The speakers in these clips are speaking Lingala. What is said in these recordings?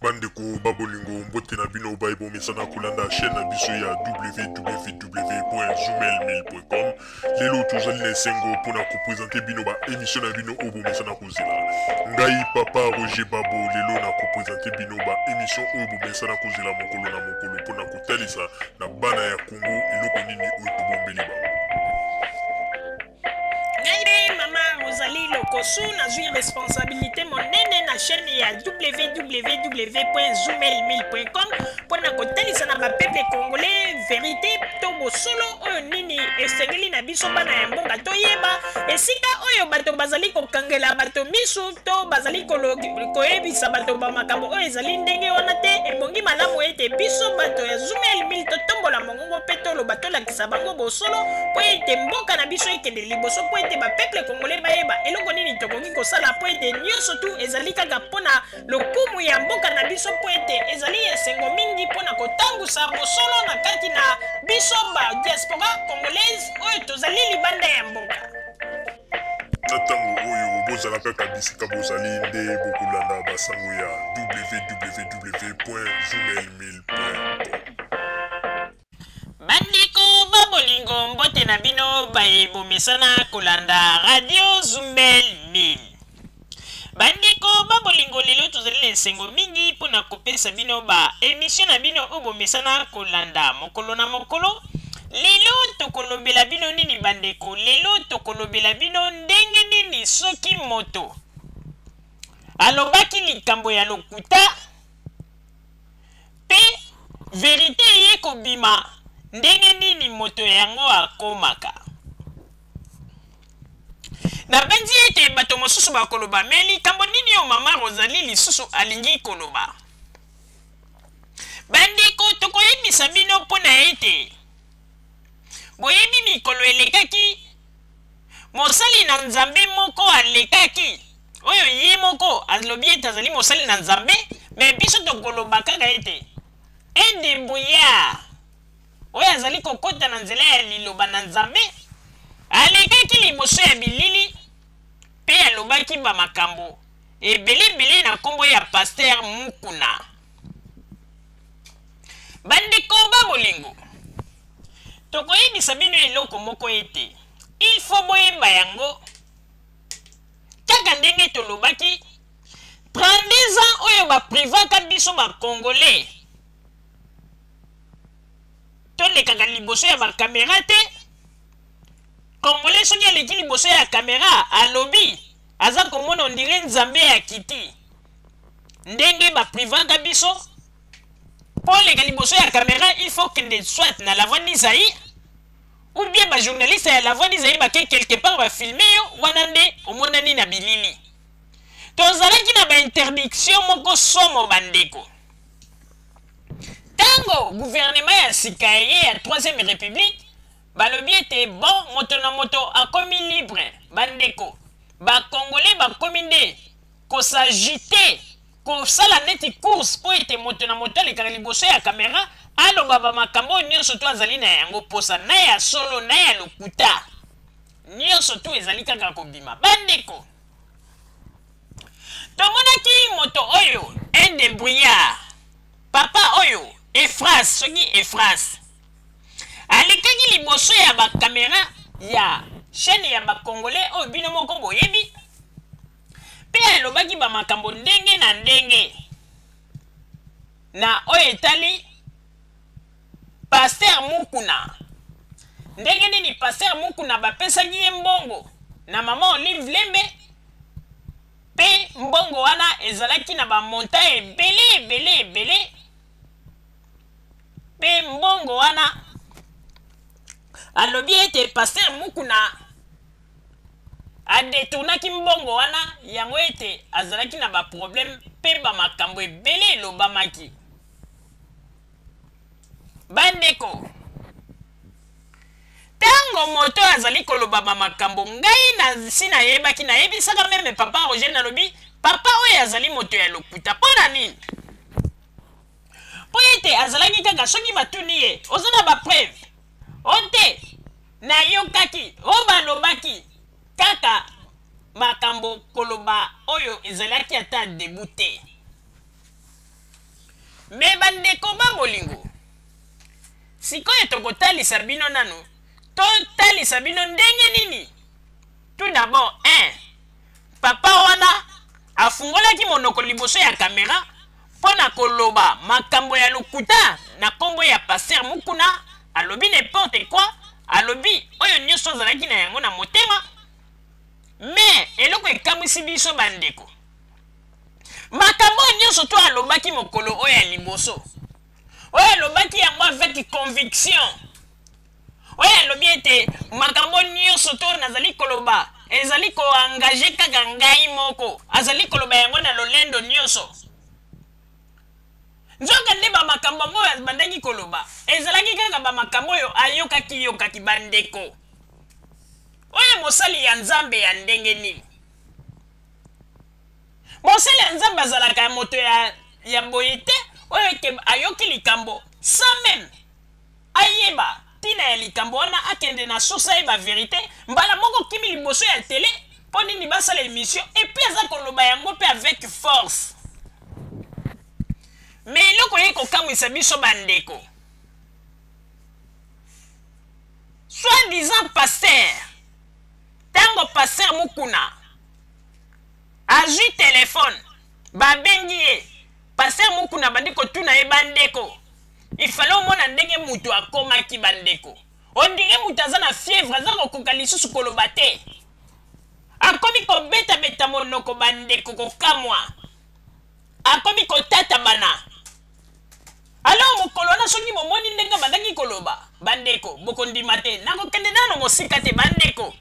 bandeko babolingo mbote na bino baye bomesana kolanda chaîne na biso ya www.zumelmail.com lelo tozali na esengo mpo na kopresente bino baemisio na bino oyo bomesana kozela ngai papa roger babo lelo na kopresente bino baemisio oyo bomesana kozela mokolo na mokolo mpo na kotalisa na bana ya kongo eloko nini oyo tobombeli bango lokosu nazwi responsabilité monene na chaîne ya www.zoomailmail.com mpo na kotalisa na bapeple congolais verité to bosolo oyo nini esengeli na biso bana ya mboka toyeba esika oyo bato bazali kokangela bato miso to bazali koyebisa bato bamakambo oyo ezali ndenge wana te ebongi malamu ete biso bato ya zoomailmail totombola mongo Kongo mpe toloba tolakisa bango bosolo mpo ete mboka na biso ekende liboso mpo ete bapeple kongole bayeba eloko nini tokoki kosala mpo ete nyonso tu ezali kaka mpo na lokumu ya mboka na biso mpo ete ezali esengo mingi mpo na kotangusa bosolo na kati na biso ba diaspora congolaise oyo tozali libanda ya mboka na ntango oyo bozala kaka bisika bozali nde bokolanda basango ya www.gmailmail.com bandeko ba bolingo mbote na bino baye bomesana kolanda radio zumel 1000 bandeko ba bolingo lelo tozali na esengo mingi mpo na kopesa bino ba emisio na bino oyo bomesana kolanda mokolo na mokolo lelo tokolobela bino nini bandeko lelo tokolobela bino ndenge nini soki moto alobaki likambo ya lokuta mpe verite eye kobima ndenge nini moto yango akomaka nabanzi ete bato mosusu bakoloba me likambo nini oyo mama rosali lisusu alingi koloba bandeko tokoyebisa bino mpo na ete boyebi mikolo elekaki mosali na nzambe moko alekaki oyo ye moko alobi ete azali mosali na nzambe me biso tokoloba kaka ete edebrouillard oyo azali kokota na nzela ya liloba na nzambe alekaki liboso ya bilili mpe alobaki bamakambo ebeleebele na nkombo ya paster mukuna bandeko ba bolingo tokoyebisa bino eloko moko ete ilfo boyeba yango kaka ndenge tolobaki 32 ans oyo baprivaka biso bacongolais tolekaka liboso ya bakamera te congolais soki aleki liboso ya kamera alobi aza komona ondire nzambe ya kiti ndenge baprivaka biso mpo oleka liboso ya kamera il faut kende soit na la voix d'isai ou bien bajournaliste ya la voix d'isai bake quelque part bafilme yo wana nde omonani na bilili tozalaki na bainterdiction moko somo bandeko Tango gouvernement ya sika eye ya troisième republique balobi ete bon moto na moto akomi libre bandeko bacongolais bakomi nde kosagite kosala neti course mpo ete moto na moto alekaka liboso ya kamera aloba bamakambo oyo nyonso to azali na yango mposa na ya solo na ya lokuta nyonso to ezali kaka kobima bandeko tomonaki moto oyo un debrouillard papa oyo efras soki efras alekaki liboso ya bakamera ya chaîne ya bacongolais oyo bino moko boyebi mpe alobaki bamakambo ndenge na ndenge na oyo etali Pasteur Mukuna ndenge nini Pasteur Mukuna bapesaki ye mbongo na mama Olive Lembe mpe mbongo wana ezalaki na bamonta ebele ebele ebele mpe mbongo wana alobi ete Pasteur Mukuna adetournaki mbongo wana yango ete azalaki na baproblème mpe bamakambo ebele elobamaki Bandeko, ntango moto azali kolobama makambo ngai nasi nayebaki, nayebisaka meme papa Roger, nalobi papa oyo azali moto ya lokuta. Mpo na nini? Mpo ete azalaki kaka soki batuni ye, oza na bapreve o oh, te, nayokaki o oh, balobaki kaka makambo koloba oyo ezalaki ata debu te. me bandeko ba bolingo sikoyo tokotalisa bino nano totalisa bino ndenge nini tout d'abord un papa wana afungolaki monoko liboso ya kamera mpo na koloba makambo ya lokuta na nkombo ya paster mokuna alobi n'importe quoi alobi oyo nyonso azalaki na yango na motema me eloko ekamwisi biso bandeko makambo oyo nyonso to alobaki mokolo oyo ya liboso oyo alobaki yango avec conviction oyo alobi ete makambo nyonso to nazali koloba ezali koengage kaka ngai moko azali koloba yango na lolendo nyonso nzoka nde bamakambo yango oyo abandaki koloba ezalaki kaka bamakambo oyo ayokaki yokaki bandeko oyo mosali ya nzambe ya ndenge nini mosali ya nzambe azalaka ya moto ya, ya boye te oyo ete ayoki likambo sa meme ayeba ntina ya likambo wana akende na source ayeba verite mbala moko kimi liboso ya tele mpo nini basala emission epui aza koloba yango mpe avec force me eloko ye kokamwisa biso bandeko soit disant pasteur Tango pasteur Mukuna azui telephone babengi ye pasteur Mukuna abandi kotuna ye bandeko il fallait omona ndenge mutu akomaki bandeko ondire mutu aza na fièvre aza kokoka lisusu koloba te akomi kobetabeta monoko bandeko kokamwa akomi kotatabana alors mokolo wana soki bomoni ndenge abandaki koloba bandeko bokondima te nakokende nano mosika te bandeko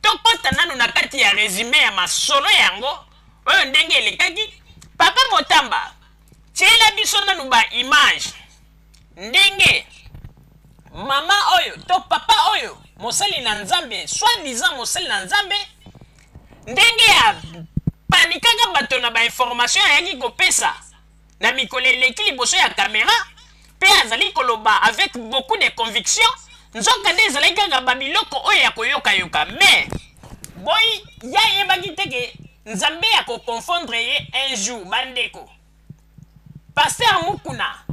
tokɔta nano na kati ya resume ya masolo yango oyo ndenge elekaki papa motamba tyela biso nano baimage ndenge mama oyo to papa oyo mosali na nzambe soit disant mosali na nzambe ndenge ya panikaka bato na bainformation ayaki kopesa na mikolo eleki liboso ya kamera mpe azali koloba avec beaucoup de conviction nzoka nde ezalaki kaka babiloko oyo ya koyokayoka mais boyi ye ayebaki te ke nzambe ya koconfondre ye un jour bandeko paster mukuna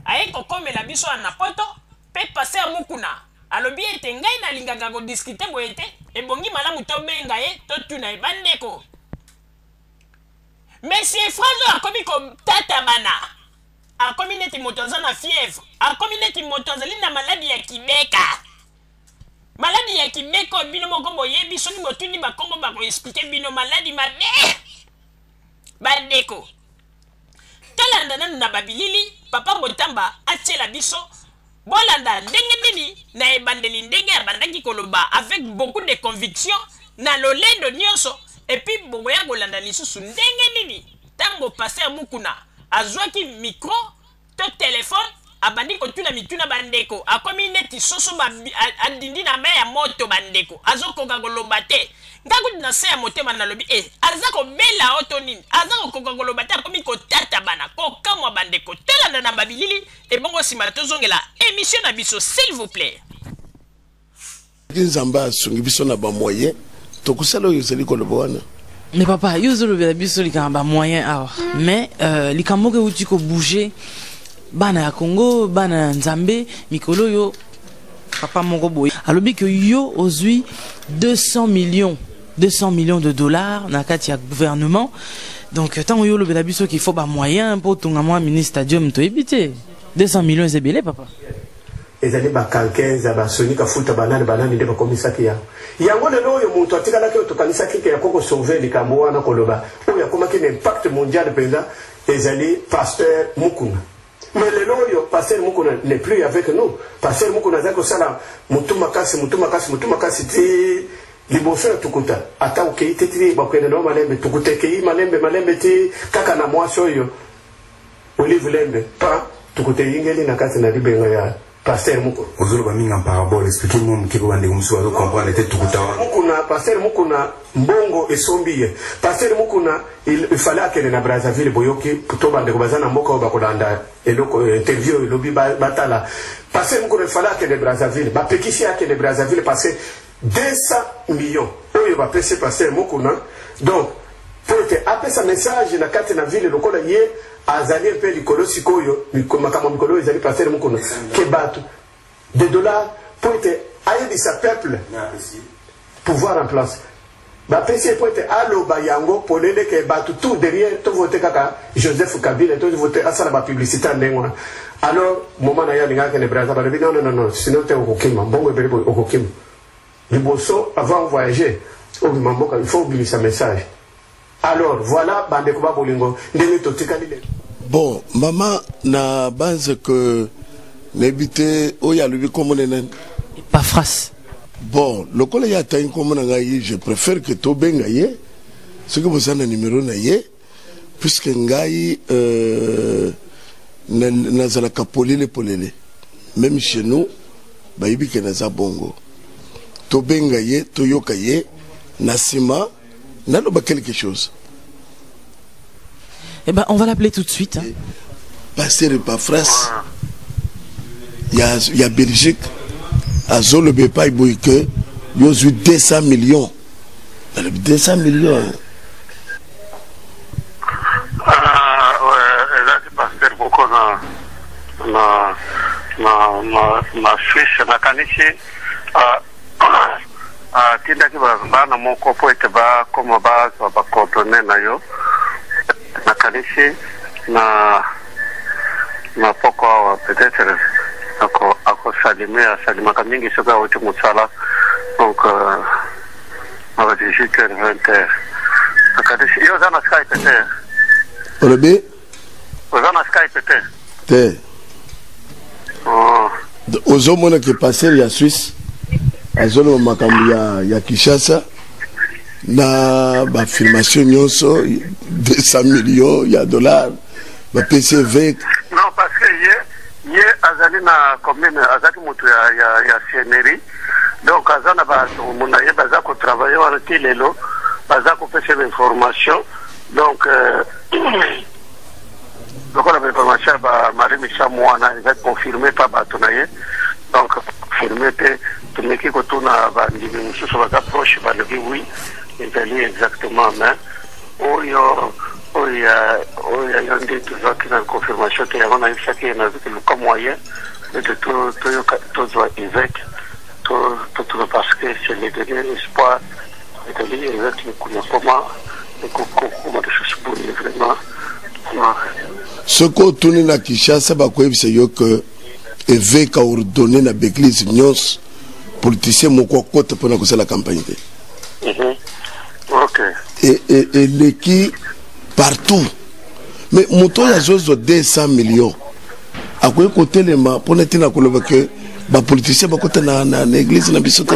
aye kokomela biso wana na poto mpe paster mukuna alobi ete ngai nalingaka kodiskite boye te ebongi malamu tobenga ye totuna ye bandeko Monsieur Franzo akomi kotatabana. Akomi neti moto aza na fièvre. Akomi neti moto azali na maladi ya kibeka. Maladi ya kibeka oyo bino moko boyebi soki botuni bakombo bakoexplike bino maladi mabe. Bandeko, tolanda nanu na babilili papa Motamba atiela biso Bolanda ndenge nini na ebandeli ndenge abandaki koloba avec beaucoup de conviction na lolendo nionso et puis bokoya kolanda lisusu ndenge nini tango pasteur Mukuna azuaki micro to telephone abandi kotuna mituna bandeko akomi neti soso adindi na mai ya moto bandeko azokoka koloba te ngai kutu na se ya motema nalobi e eh, aza kobela o to nini aza kokoka koloba te akomi kotatabana kokamwa bandeko tolanda na babilili Ebongo sima tozongela emission na biso s'il vous plaît. Soki Nzambe asungi biso na ba moyen tokosala oyo ozali koloba wana. Mais papa, yo ozolobela biso likambo ba moyen awa. Mais euh, likambo moko euti ko bouger bana ya Congo, bana ya Nzambe, mikolo yo papa moko boye. Alobi que yo ozui 200 millions 200 millions de dollars na kati ya gouvernement donc ntango yo olobela biso qu'il faut bamoyen mpo otonga mwa mini stadium toyebi te 200 millions eza ebele papa ezali bakankenza basonika futa banani banani nde bakomisaki yango yango lelo oyo moto atikalaki oyo tokanisaki ke yako kosauve likambo wana koloba oyo akomaki na impact mondial mpenza ezali pasteur mukuna Mais lelo oyo pasteur Mukuna n'est plus avec nous. Pasteur Mukuna azali kosala mutu makasi, mutu makasi, mutu makasi ti liboso ya tukuta. Ata okeyi te ti bakende na malembe, tukuta ekeyi malembe malembe ti kaka na mwasi oyo Olive Lembe pa tukuta eyingeli na kati na libenga ya Pasteur moko. Ozo loba mingi en parabole, expliquer moi muke ko bande musu azo comprendre te tukuta wana. Mukuna, pasteur mukuna mbongo esombi ye. Pasteur mukuna il fallait akende na Brazzaville boyoki to bande ko bazana mboka oyo bakolanda eloko euh, interview elobi batala. Pasteur mukuna il fallait akende Brazzaville. Bapekisi akende Brazzaville parce que 200 millions oyo ba pesi pasteur Mukuna donc po ete apesa message na kati na ville lokola ye azali mpe likolo sikoyo makambo mikolo oyo ezali pasteur Mukuna ke bato de dollars po ete ayebisa peuple pouvoir en place Ba pesi ye poete aloba yango polele ke batu tout derrière to vote kaka Joseph Kabila to vote asala ba publicite ya ndenge wana. Alors moment na ye alingaka kende Brazza balobi non non non sinon te okokima mbongo ebele boye okokima. Liboso avant voyager obima mboka il faut obimisa message. Alors voilà bandeko ba bolingo ndenge totikali lelo. Bon maman na banze que nayebi te oyo alobi nkombo na nani epafras bon lokola ye atangi nkombo na ngai je préfère que tobenga ye soki boza na numero na ye puisque ngai euh, nazalaka polele polele même chez nous bayebi ke naza bongo tobenga ye toyoka ye na nsima naloba quelque chose eh ben on va l'appeler tout de suite hein. pasteur epafras ya, ya belgique azoloba epai boye ke yo ozwi 200 millions nalobi 200 millions hein. na na na na Suisse nakanisi uh, atindaki bana moko mpo ete bakoma bazwa bacoordone na yo nakanisi na na poko awa peut-être akosalime asalimaka mingi soki awuti mosala donc mawa 18 heure 20 heure nakanisi yo oza na skype te olobi oza na skype te te oh. ozomona ke passer ya suisse azoloba makambo ya, ya kinshasa na bafirmation nyonso 200 million ya dollar bapesi eveke non parce que ye ye azali na commune azalaki moto ya, ya, ya sienerie donc aza na bato na ye baza kotravaille wana ti lelo baza kopesa information donc euh, lokola bainformation ya ba marie misamu wana eza confirme pa bato na ye donc confirme te tomeki kotuna bandimi mosusu baza proche balobi wi ezali exactement mais oyo oyo oyo yo nde tozwaki na confirmation te yango nayebisaki ye nazwaki luka moyen ete toyoka tozwa évêque totuna parce que c'est le dernier espoir Nathalie eza te kuna koma ekokoma lisusu boye vraiment soki otuni na kinshasa bakoyebisa yo ke eveke aordonne na baeglise nyonso politicien moko akota mpo na kosala campagne te mhm. e, e, eleki partout me moto oyo azozwa 200 million akoki kotelema mpo na ntina koloba ke bapoliticien bakota na, na, na eglise na biso te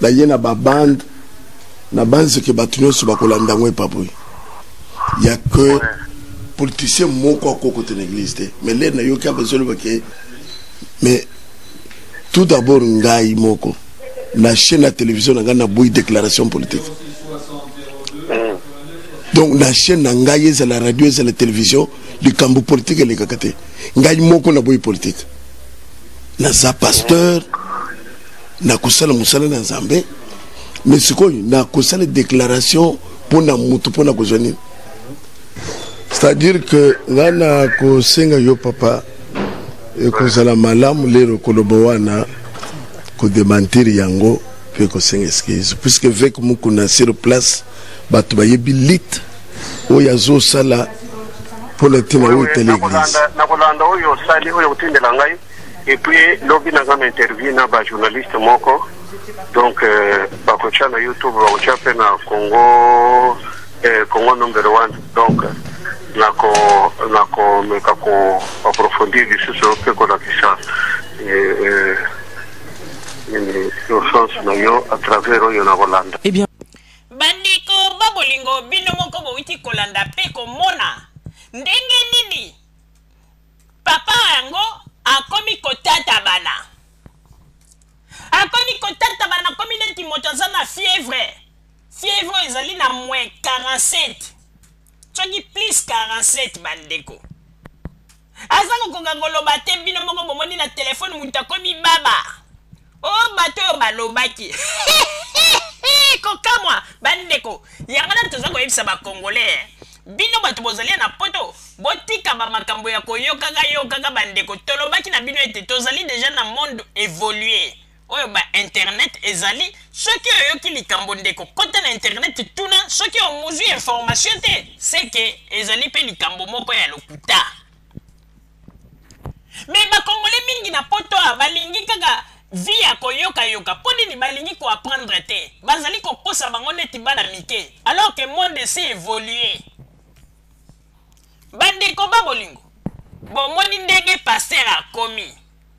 Na ye na ba bande na banzi ke bato nyonso bakolanda yango epa boye ya ke politicien moko akokota na eglise te mais lere nayoki ape ezoloba ke mais tout d'abord ngai moko na chaîne ya télévision na ngai naboyi déclaration politique donc na chaîne na ngai ezala radio ezala télévision likambo politique elekaka te ngai moko naboyi politique naza pasteur na kosala mosala na nzambe me sikoyo na kosala déclaration mpo na motu mpo na kozwa nini c'est-à-dire que ngai na kosenga yo papa ekozala malamu lelo koloba wana kodemantir yango mpe kosenga excuse puisque veke mokuna sur place bato bayebi lite oyo azosala mpo na ntina oyo etali eglise nakolanda oyo osali oyo otindela ngai et puis lobi naza na interview na ba journaliste moko donc euh, bakotya na youtube bakotya mpe na congo euh, congo number one donc nako nakomeka koaprofondir lisusu mpe kolakisa euh, urgence na yo à travers oyo nakolanda eh bandeko ba bolingo bino moko bowiti kolanda mpe komona ndenge nini papa yango akomi kotatabana akomi kotatabana akomi neti moto aza na fievre fievre oyo ezali na moins 47 soki plus 47 bandeko aza kokoka koloba te bino moko bomoni na telefone moto akomi baba o bato oyo balobaki kokamwa bandeko yango nani toza koyebisa bakongolais bino bato bozali na poto botika bamakambo ya koyokaka yokaka bandeko tolobaki na bino ete tozali deja na monde évolue oyo ba internet ezali soki oyoki likambo ndeko kota na internet tuna soki omuzwi information te seke ezali mpe likambo moko ya lokuta mais ba congolais mingi na poto awa balingi kaka vie ya koyokayoka mpo nini balingi koapprendre te bazali kokosa bango neti bana mike alors que monde esi évolue bandeko ba bolingo bomoni ndenge paster akomi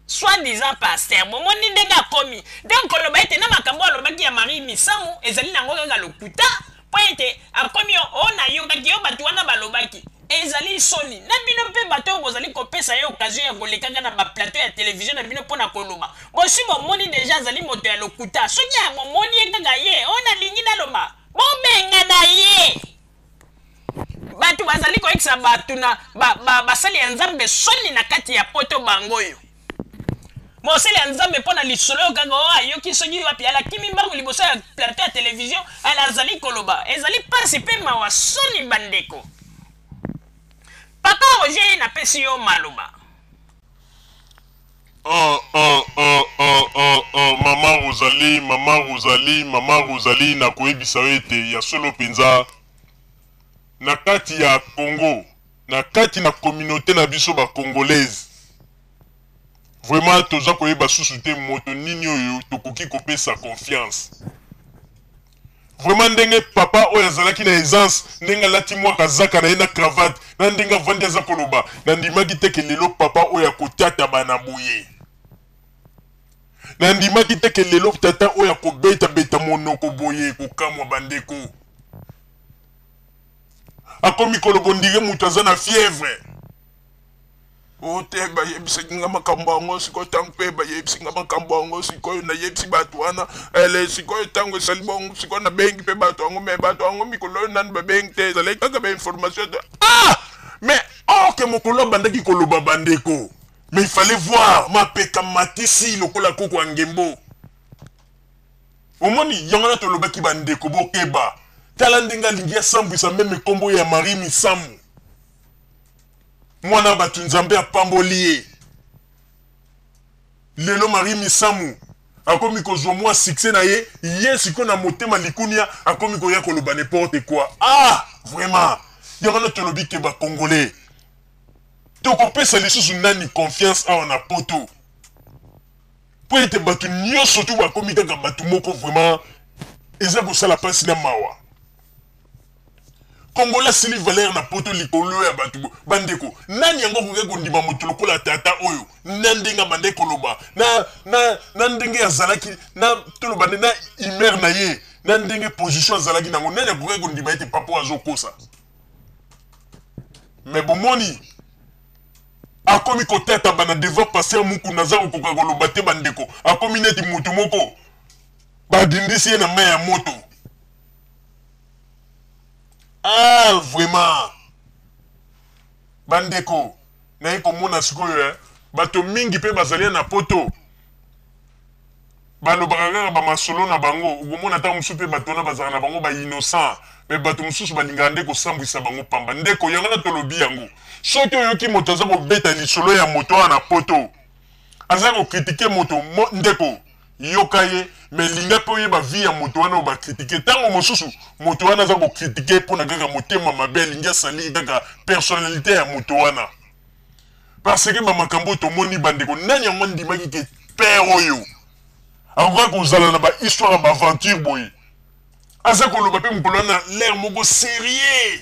soit disant pasteur bomoni ndenge akomi donc koloba ete na makambo alobaki ya marie misamu ezali nango kaka lokuta mpo ete akomi o oh, nayokaki yo bato wana balobaki ezali soni na bino mpe bato oyo bozali kopesa ye okazio ya kolekaka na baplateau ya televizio na bino mpo na koloba bosi bomoni deja azali moto ya lokuta soki amomoni ye kaka ye oyo oh, nalingi naloba bobengana ye bato bazali koyekisa bato na basali ya nzambe soni na kati ya poto bango oyo mosali ya nzambe mpo na lisolo oyo kaka oyo ayoki soki wapi alakimi mbango liboso ya plateau ya televizio ala azali koloba ezali mpasi mpe mawa soni bandeko papa roger ye napesi yo maloba Oh, oh, oh, oh, oh, oh, mama Rosalie, mama Rosalie, mama Rosalie, na koyebisa yo ete ya solo mpenza na kati ya Congo, na kati na communauté na biso ba congolaise vraiment toza koyeba susu te moto nini oyo tokoki kopesa confiance Vraiment ndenge papa oyo azalaki na aisance ndenge alati mwa kazaka na ye na cravate na ndenge avandi aza koloba nandimaki te ke lelo papa oyo akotatama na boye nandimaki te ke lelo tata oyo akobetabeta monoko boye kokamwa bandeko akomi koloba ondire moto aza na fièvre O te, bayebisaki nga makambo yango sikoyo. Ntango mpe bayebisi nga makambo yango sikoyo, nayebisi bato wana ele sikoyo. Ntango esali bongo, sikoyo nabengi mpe bato yango, me bato yango mikolo oyo nanu babengi te, ezalaki kaka ba information. Ah! Me or que mokolo abandaki koloba bandeko, me il fallait voir mapeka matisi lokola koko ya ngembo. Omoni, yango wana tolobaki bandeko bokeba. Tala ndenge alingi asambwisa meme nkombo ya Marie Misamu. mwana bato nzambe apamboli ye lelo marie misamu akomi kozwa mwa succès na ye ye sikoyo na motema likunia akomi koya koloba n'importe quoi ah vraiment ya wana tolobi ke bacongolais tokopesa lisusu nani confiance awa na poto mpo ete bato nyonso tu bakomi kaka bato moko vraiment eza kosala mpasi na mawa congolais asili valeur na poto likolo ya bato bo bandeko nani yango akoki kondima moto lokola tata oyo na ndenge abandaki koloba na, na, na ndenge azalaki na toloba nde na humeur na ye na ndenge position azalaki nango nani akoki kondima ete papa oyo azokosa me bomoni akomi kotata bana devant paster mukuna aza kokoka koloba te bandeko akomi neti moto moko badindisi ye na mai ya moto ah vraiment bandeko naye komona sikoyo eh? bato mingi mpe bazali na poto balobaka kaka bamasolo na bango okomona ntango mosusu mpe bato wana bazalaka na bango bainnocent me bato mosusu balingaka nde kosambwisa bango pamba ndeko yango na tolobi yango soki oyoki moto aza kobeta lisolo ya moto wana na poto aza ko critiquer moto mo, ndeko yoka ye me linga mpe oyeba vie ya moto wana obakritike ntango mosusu moto wana aza kokritike mpo na kaka motema mabe alingi asali kaka personnalité ya moto wana parce que bamakambo oyo tomoni bandeko nani yango andimaki ke père oyo akoka kozala na bahistoire ya baaventure boye aza koloba mpe mokolo wana lere moko serieux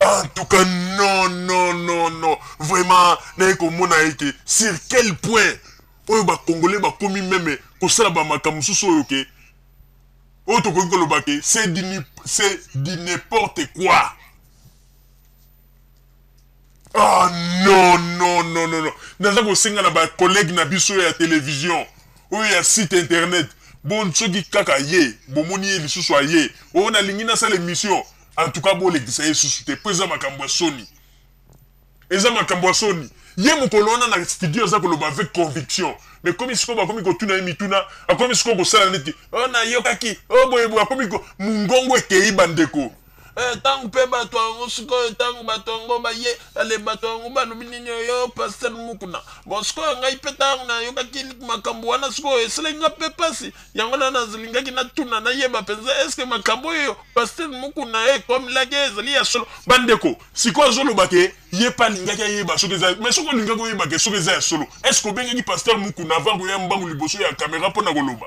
en tout cas non non non non vraiment naye komona ye ke sur quel point oyo bacongolais bakomi meme kosala bamakambo mosusu oyo ke oyo tokoki koloba ke c'est du n'importe quoi Ah non non non non non. Naza kosenga na ba collègues na biso ya télévision oyo ya site internet bon soki kaka ye bomoni ye lisusu aye oyo nalingi nasala émission en tout cas bolekisa ye lisusu te mpo eza makambo ya soni eza makambo ya soni ye mokolo wana na studio aza koloba avec conviction mais komi sikoyo bakomi kotuna ye mituna akomi sikoyo kosala neti o oh, nayokaki o oh, boyeboye akomi mongongo ekei bandeko Eh, ntango mpe bato yango sikoyo ntango bato yango baye ale bato yango balobi nini oyo paster mukuna bo sikoyo ngai mpe ntango nayokaki makambo wana sikoyo esalaki nga mpe mpasi yango na nazalingaki natuna nayeba mpenza eske makambo oyo paster mukuna ekomelaki eh, ezali ya solo bandeko sikoyo azoloba te ye mpe alingaki ayeba soki eza mai soki olingaki oyeba ke soki eza ya solo eske obengaki paster mukuna avant koya mbangu liboso ya kamera mpo na koloba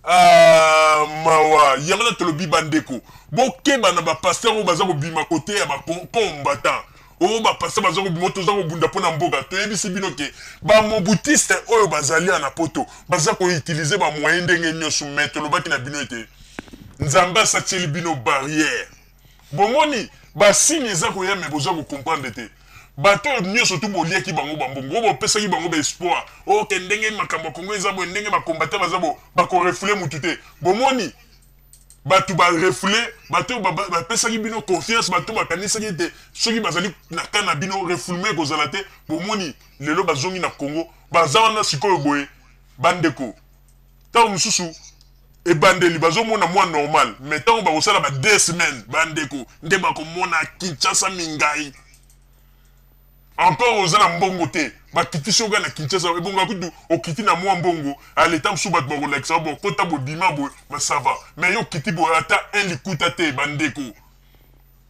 Ah, mawa yango na tolobi bandeko bokeba na bapasteur oyo baza kobima kote ya bacombatant oyo bapasteur baza kobima oyo toza kobunda mpo na mboka toyebisi bino ke bamobutiste oyo bazali ya na poto baza koutilize bamoyen ndenge nyonso mai tolobaki na bino ete nzambe asatieli bino barrière Bomoni, ba-signe eza koya, mais boza ko-comprendre te. Bato oyo nyonso tu boliaki bango ba-mbongo, oyo bopesaki bango ba-espoir, oh, ke ndenge makambo ya Congo eza boye, ndenge ba-combattant baza boye, bako-refouler moto te. Bomoni? Bato ba-refouler, bato oyo ba-bapesaki bino confiance, bato oyo bakanisaki ete soki bazali na camp na bino, refoulement ekozala te, bomoni, lelo bazongi na Congo, baza wana sikoyo boye. Bandeko. Tango mosusu ebandeli bazomona mwa normal mais ntango bakosala ba deux semaines bandeko nde bakomona kinshasa mingai encore oza na mbongo te bakitisi oga na kinshasa ebonga kutu okiti na mwa mbongo aleta mosusu bato bakolakisa bo kota bobima boye masava mais yo okiti boye ata un likuta te bandeko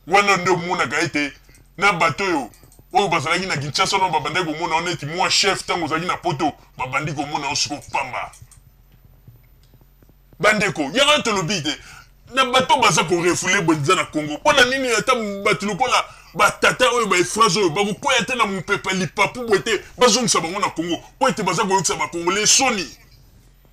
Wana nde omonaka ete na bato oyo oyo bazalaki na Kinshasa wana babandaki komona yo neti mwa chef, ntango ozalaki na poto babandi komona yo siko pamba. Bandeko, yango wana tolobi te na bato baza korefule mpenza na Congo. Mpo na nini ata bato lokola batata oyo baefrase oyo bakokwea te na mopepe lipapu boye te bazongisa bango na Congo mpo ete baza koyokisa bakongole soni.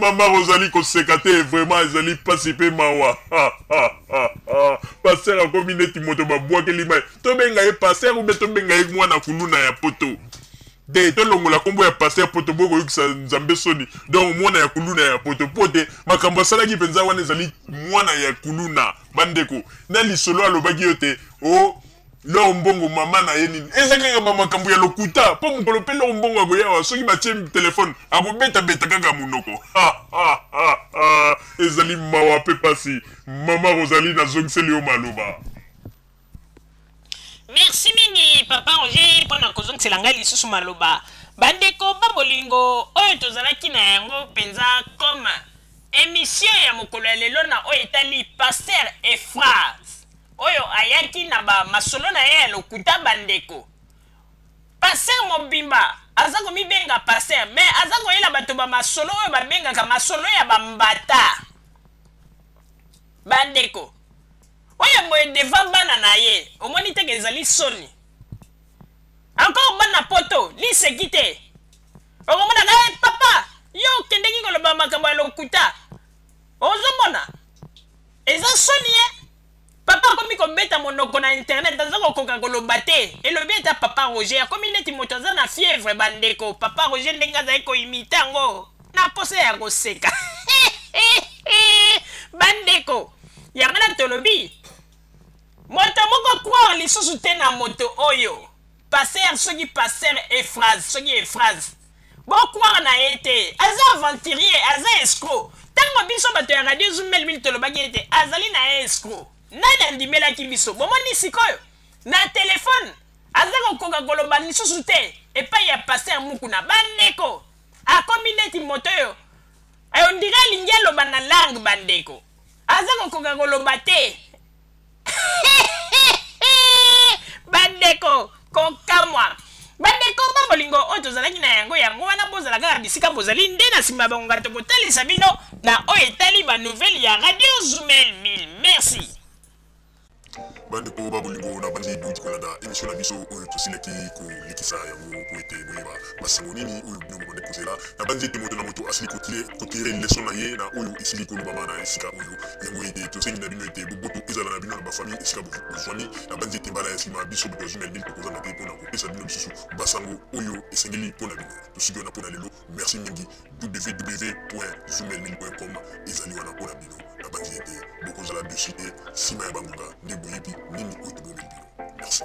mama ozali koseka te vraiment ezali mpasi mpe mawa paster akomi neti moto babwakeli mai tobenga ye paster ube tobenga ye mwana kuluna ya poto de tolongola nkombo ya paster poto bokoyokisa nzambe soni donc mwana ya kuluna ya poto mpo te makambo asalaki mpenza wana ezali mwana ya kuluna bandeko na lisolo alobaki yo te o oh, Lor mbongo mama na ye nini eza kaka ba makambo ya lokuta po mokolo pe lor mbongo akoyawa soki batie telefone akobeta beta kaka monoko ezali mawa pe pasi mama rosalie nazongiseli yo maloba merci mingi papa roger mpo na kozongisela ngai lisusu maloba bandeko ba bolingo oyo tozalaki na yango mpenza comme emission ya mokolo ya lelo na oyo etali paster efras oyo ayaki na ba masolo na ye ya lokuta bandeko paster mobimba aza komibenga paster me aza koyela bato bamasolo oyo babengaka masolo ya bambata bandeko oyo boye deva bana na ye omoni teke ezali soni encore bana poto liseki te okomonaka hey, eh, papa yo okendeki koloba makambo ya lokuta ozomona eza soni ye papa akomi kobeta monoko na internet aza kokoka koloba te elobi ata papa roger akomi neti moto aza na fievre bandeko papa roger ndenge azali koimite yango na posa ya koseka bandeko yango na tolobi moto moko croire lisusu te na moto oyo paster soki paster efrase soki efrase Bo croire na ye te. Aza aventurier, aza escroc. Tango biso bato ya radio Zumbel Mil tolobaki ete azali na ye escroc. Nani andimelaki biso? Bomoni sikoyo? Na telephone aza kokoka koloba lisusu te epai ya Pasteur Mukuna. Bandeko, akomi neti moto oyo eh, on dirait alingi aloba na langue bandeko. Aza kokoka koloba te. bandeko kokamwa bandeko ba bolingo oyo tozalaki na yango yango wana bozala kaka bisika bozali nde na nsima bangonga tokotalisa bino na oyo etali banouvele ya radio zumel 1000 merci bandeko ba bolingo na bandi bouti kolanda emission na biso oyo tosilaki kolekisa yango po ete boyeba Masolo nini oyo bino bobandi kozela? Nabanzi ete moto na moto asili kotire leso na ye na oyo esili kolobama na esika oyo. Yango ete tosengi na bino ete boboto ezala na bino na bafamille esika bozwami. Nabanzi ete mbala ya nsima biso bato ya Zumelbin tokozanga te mpo na kopesa bino lisusu basango oyo esengeli mpo na bino. Tosili wana mpo na lelo. Merci mingi. www.zumelbin.com ezali wana mpo na bino. Nabanzi ete bokozala deçu te nsima ya bangonga nde boyebi nini oyo tobongeli bino. Merci.